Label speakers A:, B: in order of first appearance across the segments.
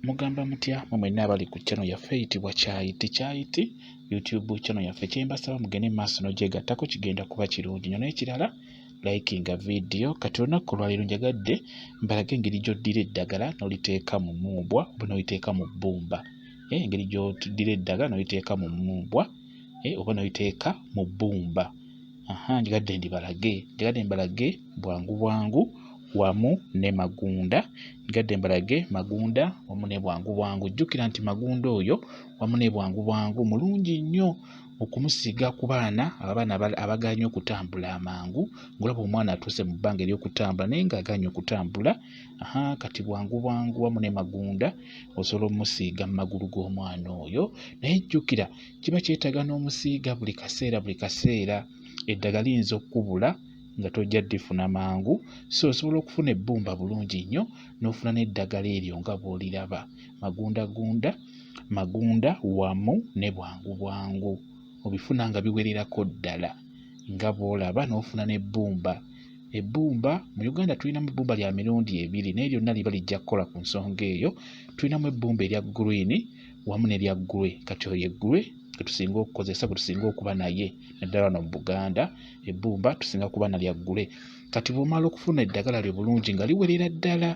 A: Mugamba mutya mwe mwenna abali ku channel yaffe eyitibwa Kyayiti Kyayiti YouTube channel yaffe. Kye mbasaba mugende mu maaso n'ogyegattako kigenda kuba kirungi nnyo. N'ekirala likinga vidiyo. Kati olunaku olwaleero njagadde mbalage engeri gy'oddira eddagala n'oliteeka mu mumbwa oba n'oliteeka mu bbumba. Eh, engeri gy'oddira eddagala n'oliteeka mu mumbwa eh, oba n'oliteeka mu bbumba. aha njigadde ndibalage njigadde mbalage bwangu bwangu wamu ne magunda njigadde mbalage magunda wamu ne bwangu bwangu jjukira nti magunda oyo wamu ne bwangu bwangu mulungi nnyo okumusiiga ku baana abaana abagaala nnyo okutambula amangu ngolaba omwana atuuse mu bbanga eryokutambula naye nga agaanye okutambula aha kati bwangu bwangu wamu ne magunda osobola omumusiiga mu magulu g'omwana oyo naye jjukira kiba kyetaaga n'omusiiga buli kaseera buli kaseera eddagala liyinza okukubula nga tojja ddifuna mangu so osobola okufuna ebbumba bulungi nnyo n'ofuna n'eddagala eryo nga bw'oliraba magundagunda magunda wamu ne bwangu bwangu obifuna nga biwererako ddala nga bw'olaba n'ofuna n'ebbumba ebbumba mu uganda tulinamu ebbumba lya mirundi ebiri naye lyonna liba lijja kukola ku nsonga eyo tulinamu ebbumba erya green wamu ne lya ggulwe kati oyo eggulwe gwe tusinga okukozesa gwe tusinga okuba naye naddala wano mu buganda ebbumba tusinga kuba na lya ggule kati bw'omala okufuna eddagala lyo bulungi nga liwerera ddala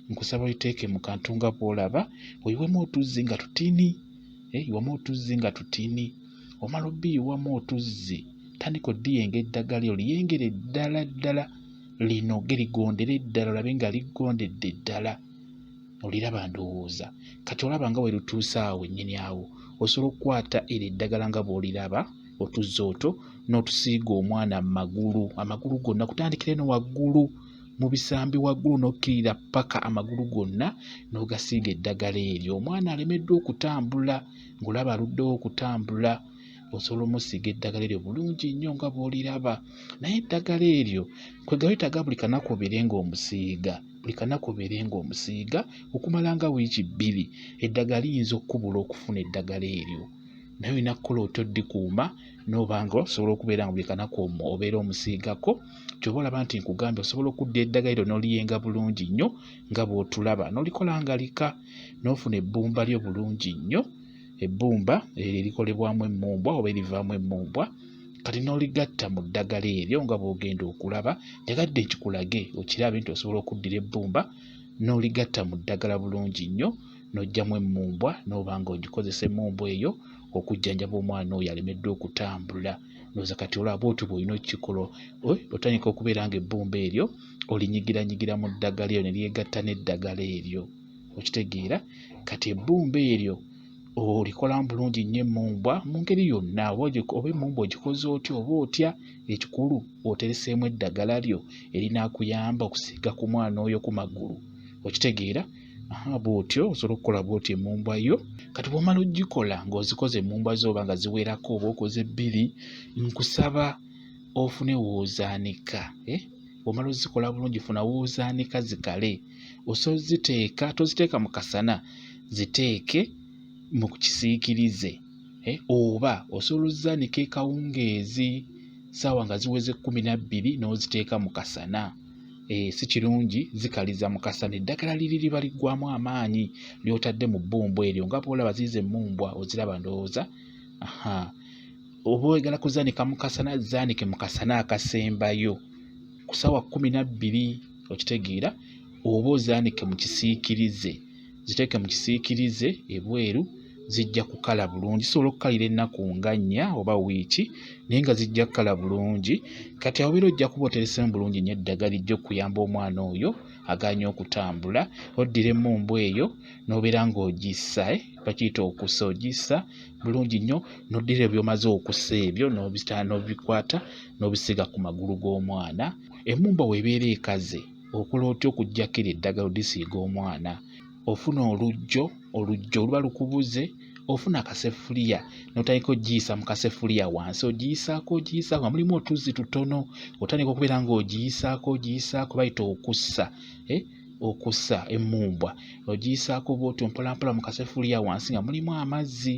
A: nkusaba oliteeke mu kantu nga bw'olaba oyiwemu otuzzi nga tutini eh, iwamu otuzzi nga tutini omala obiyiwamu otuzzi tandika odiyenga eddagala lyo liyengere ddala ddala linoge ligondere ddala olabe nga ligondedde ddala oliraba ndowooza kati olaba nga werutuuse awo nnyini awo osobola okukwata eri eddagala nga bw'oliraba otuzza oto n'otusiiga omwana mu magulu amagulu gonna kutandikira eno waggulu mu bisambi waggulu n'okkirira ppaka amagulu gonna n'ogasiiga eddagala eryo omwana alemeddwa okutambula ng'olaba aluddewo okutambula osobola omusiiga eddagala eryo bulungi nnyo nga bw'oliraba naye eddagala eryo kwegawetaaga buli kanaku obeere ng'omusiiga buli kanaku obeere ng'omusiiga okumala nga wiiki bbiri eddagala liyinza okukubula okufuna eddagala eryo naye olina kukola otya oddikuuma noba nga osobola okubeera nga buli kanaku omu obeera omusiigako kyoba olaba nti nkugambye osobola okudda eddagala eryo n'oliyenga bulungi nnyo nga bw'otulaba n'olikola nga lika n'ofuna ebbumba lyo bulungi nnyo ebbumba eryo erikolebwamu emmumbwa oba erivaamu emmumbwa kati n'oligatta mu ddagala eryo nga bw'ogenda okulaba njagadde nkikulage okirabe nti osobola okuddira ebbumba n'oligatta mu ddagala bulungi nnyo n'oggyamu emmumbwa n'oba nga ogikozesa emmumbwa eyo okujjanjaba omwana oyo alemeddwa okutambula noza kati olaba bwotyo bwolina okukikola otandika okubeera nga ebbumba eryo olinyigiranyigira mu ddagala eryo ne lyegatta n'eddagala eryo okitegeera kati ebbumba eryo olikolamu bulungi nnyo emmumbwa mu ngeri yonna oba emmumbwa ogikoze otya oba otya ekikulu otereseemu eddagala lyo erinaakuyamba okusiiga ku mwana oyo ku magulu okitegeera bwotyo osobola okukola bwotyo emumbwa yo kati bwomala ogikola ng'ozikoze emumbwa zo oba nga ziwerako oba okoze bbiri nkusaba ofune woozaanika eh? bwomala ozikola bulungi funa woozaanika zikale osobola ziteeka toziteeka mu kasana ziteeke mu kisiikirize eh, oba osobola ozaanika ekawungeezi saawa nga ziweze kkumi na bbiri n'oziteeka mu kasana eh, si kirungi zikaliza mu kasana eddagala liri liba liggwamu amaanyi ly'otadde mu bbumbu eryo nga bwolaba ziiza emmumbwa oziraba ndowooza oba oyagala kuzaanika mu kasana zaanike mu kasana akasembayo ku saawa kkumi na bbiri okitegeera oba ozaanike mu kisiikirize ziteeke mu kisiikirize ebweru zijja kukala bulungi zisobola okukalira ennaku nga nnya oba wiiki naye nga zijja kukala bulungi kati awobeera ojja kuba oteresemu bulungi nyo eddagala ijja okuyamba omwana oyo aganye okutambula oddira emumbu eyo nobeera nga ogissa eh, bakiyita okusa ogissa bulungi nnyo n'oddira ebyo omaze okusa ebyo n'obitala n'obikwata n'obisiiga ku magulu g'omwana emmumba weebeera ekaze okola otya okuggyako eryo eddagala odisiiga omwana ofuna olujjo olujjo oluba lukubuze ofuna akasefuliya n'otandika ogiyisa mu kasefuliya wansi ogiyisaako ogiyisaako nga mulimu otuzzi tutono otandika okubeera ng'ogiyisaako ogiyisaako bayita okussa eh? okussa emmumbwa ogiyisaako bw'otyo mpolampola mu kasefuliya wansi nga mulimu amazzi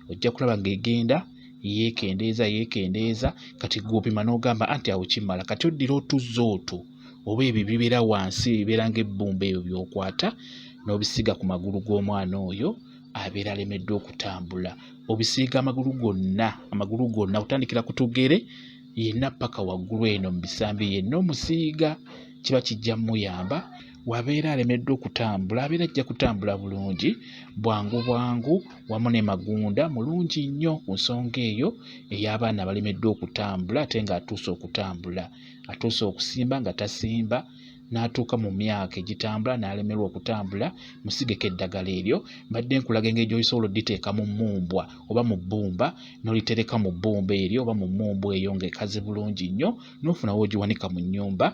A: ojja kulaba ng'egenda yeekendeeza yeekendeeza kati gw'opima n'ogamba anti awo kimala kati oddira otuzza otwo oba ebyo ebibeera wansi ebibeera ng'ebbumba ebyo by'okwata n'obisiiga ku magulu g'omwana oyo abeera alemeddwa okutambula obisiiga amagulu gonna amagulu gonna otandikira ku tugere yenna paka waggulu eno mu bisambi yenna omusiiga kiba kijja muyamba wabeera alemeddwa okutambula abeera ajja kutambula bulungi bwangu bwangu wamu ne magunda mulungi nnyo ku nsonga eyo ey'abaana abalemeddwa okutambula ate ng'atuuse okutambula atuuse okusimba nga tasimba n'atuuka mu myaka egitambula n'alemerwa okutambula musigeko eddagala eryo mbadde nkulaga engeri gy'osobola odditeeka mu mmumbwa oba mu bbumba n'olitereka mu bbumba eryo oba mu mmumbwa eyo ng'ekaze bulungi nnyo n'ofuna w'ogiwanika mu nnyumba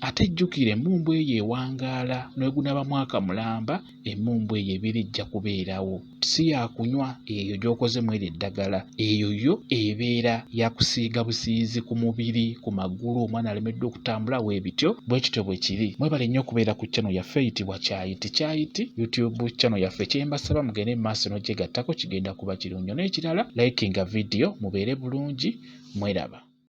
A: ate jjukira emmumbwa eyo ewangaala n'egunaaba mwaka mulamba emmumbwa eyo ebiri ejja kubeerawo si yakunywa eyo gy'okoze mweri eddagala eyo yo ebeera yakusiiga busiizi ku mubiri ku magulu omwana alemeddwa okutambula weebityo bwe kityo bwe kiri mwebale nnyo okubeera ku channel yaffe eyitibwa kyayiti kyayiti youtube channel yaffe kyembasaba mugende mu maaso n'ogyegattako kigenda kuba kirungi n'ekirala likinga vidiyo mubeere bulungi mweraba